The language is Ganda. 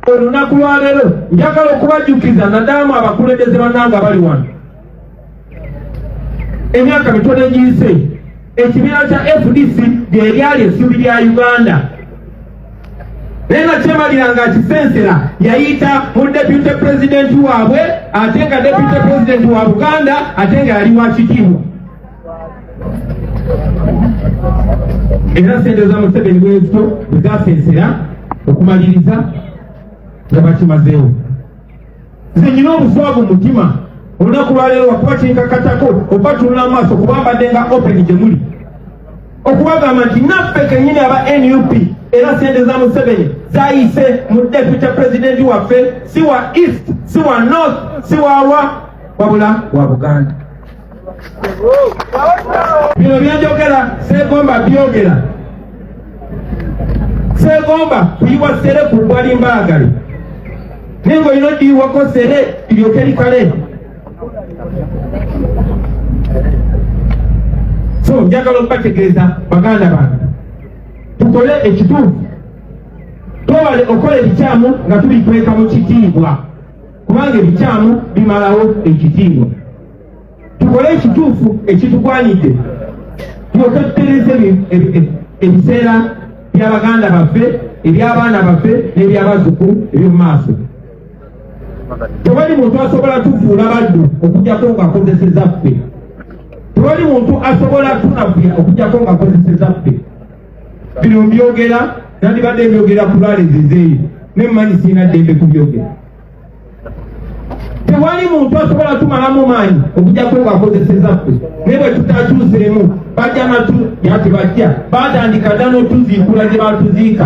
Olunaku lwaleero njagala okubajjukiza nadaamu abakulembeze bannange abali wano emyaka mitono egiyise ekibiina kya fdc gyeryali essuubi lya uganda naye nakyemalira nga akisensera yayita mu depute pulezidenti waabwe ate nga depute pulezidenti wa buganda ate nga yali wakitiibwa era sente za museveni bwezito bwezasensera okumaliriza nga bakimazeewo nze nyina obuswavu mutima olunaku lwaleero wakuba kinkakatako oba tunula amaaso kuba mbadde nga open gye muli okubagamba nti naffe kenyini aba nup era sente za museveni zayise mu deputy presidenti waffe si wa east si wa north si wawa wabula wa buganda bino byenjogera segomba byogera segomba kuyiwa sere ku bwali mbaagale naye nga olina odiyiwako sere lyoke likale so njagala okubategeeza baganda bange tukole ekituufu twewale okukola ebikyamu nga tubikweka mu kitiibwa kubanga ebikyamu bimalawo ekitiibwa tukole ekituufu ekitugwanidde tulyoke tutereze ebiseera bya baganda baffe eby'abaana baffe n'ebyabazzukulu eby'omu maaso tewali muntu asobola tufuula baddu okujjako ng'akozeseza ffe tewali muntu asobola tunafuya okujjako ng'akozeseza ffe bino mbyogera nandibadde mbyogera ku lwalezizeeyo ne mumanyi sirina ddembe kubyogera tewali muntu asobola tumalamu maanyi okujako nga akozeseza ffe naye bwe tutakyuseemu bajja natu yati bajja batandika dda n'otuziikula gye batuziika